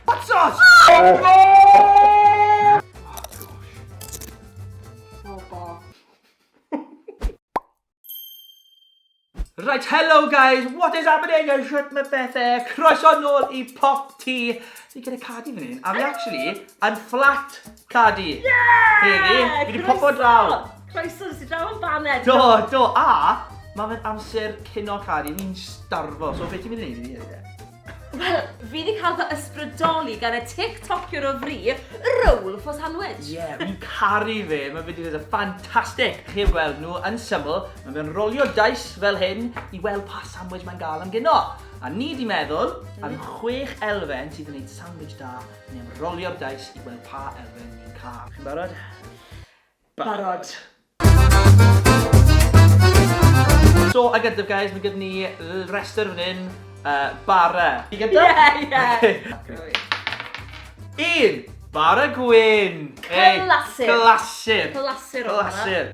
Hot sauce! Oh, oh, oh, Right, hello guys, what is happening? I shut my bethe. Croeso nôl i Pop Tea. Fi gyda cadi fan hyn, a fi actually yn fflat Cadi! Yeah! Heli, fi wedi popo draw! Croeso, nes i draw yn baned! Do, do, a mae fe'n amser cyn o'r cadi, ni'n starfo, so beth ti'n mynd i wneud i fi hynny? Wel, fi wedi cael fy ysbrydoli gan y TikTokiwr o fri, roll for sandwich. Ie, yeah, fi'n caru fe. Mae fe wedi gwneud y ffantastig. Chi'n gweld nhw yn syml. Mae fe'n rolio dais fel hyn i weld pa sandwich mae'n gael am gyno. A ni wedi meddwl am mm. chwech elfen sydd yn gwneud sandwich da Ni am rolio'r dais i weld pa elfen ni'n cael. Chi'n barod? Barod! So, a gyntaf guys, mae gyda ni rester fan hyn, uh, bara. Ti gyda? Ie, ie. Un! Bara gwyn! Clasur! Clasur! Clasur! Clasur!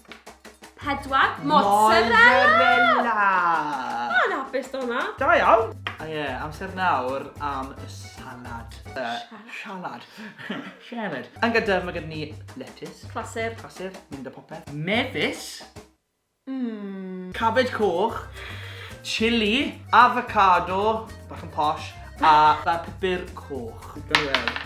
Pedwar. Mozzarella! Mae'n hapus do hwnna. Da iawn. A ie, amser nawr am y salad. Salad. Salad. Yn gyda, mae gyda ni lettuce. Clasur. Clasur, mynd o popeth. Mefus. Mmm. Cabed coch. Chili. Avocado. Bach yn posh. A pupur coch. Gael ei weld.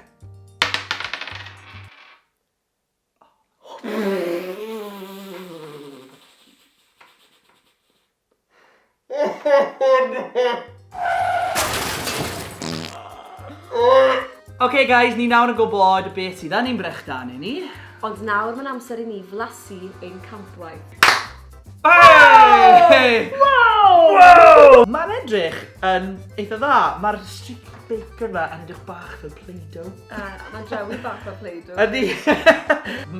OK guys, ni nawr yn gwybod beth sydd yn ein brechdanau ni. Ond nawr mae'n amser i ni flasu ein campwaith. Hey! Wow! Wow! Mae'n edrych yn eitha dda. Mae'r streak bacon yma yn edrych bach fel Play-Doh. A, mae'n drawi bach fel Play-Doh. Ydy.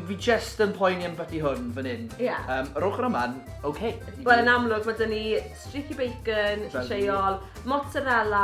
Fi just yn poeni am byty hwn fan hyn. Ie. Yeah. Um, yr ochr yma'n oce. Okay. Wel, yn amlwg, mae dyn ni streaky bacon, lleol, mozzarella,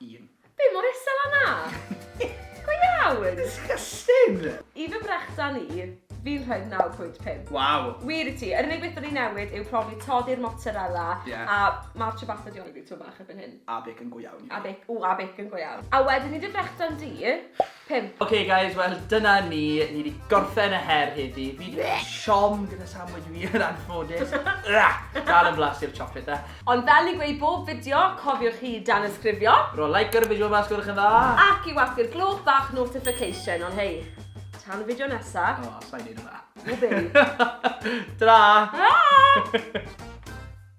Un. Be mor isel a 'na? Go iawn! Disgusting! I fy mhrechdan i, fi'n rhoi'r 9.5. Waw! Wir i ti, yr unig beth o'n i'n newid yw profi toddi'r mozzarella Ie. a ma'r ciabatta 'di oedi tipyn bach erbyn hyn. A bacon go iawn i fi. A bec- ww a bacon go iawn. A wedyn i dy frechdan di, Pump. Ok guys, wel dyna ni, ni wedi gorffen y her heddi. Fi wedi cael siom gyda sandwich fi yn anffodus. Dal yn blas i'r chocolate da. E. Ond fel i gweud bob fideo, cofiwch chi dan ysgrifio. Ro like ar y fideo mas gwrch yn dda. Ac i wafu'r gloch bach notification, ond hei, tan y fideo nesa. O, oh, sa'i neud yma. Ww, babe. Ta-ra! Ta-ra!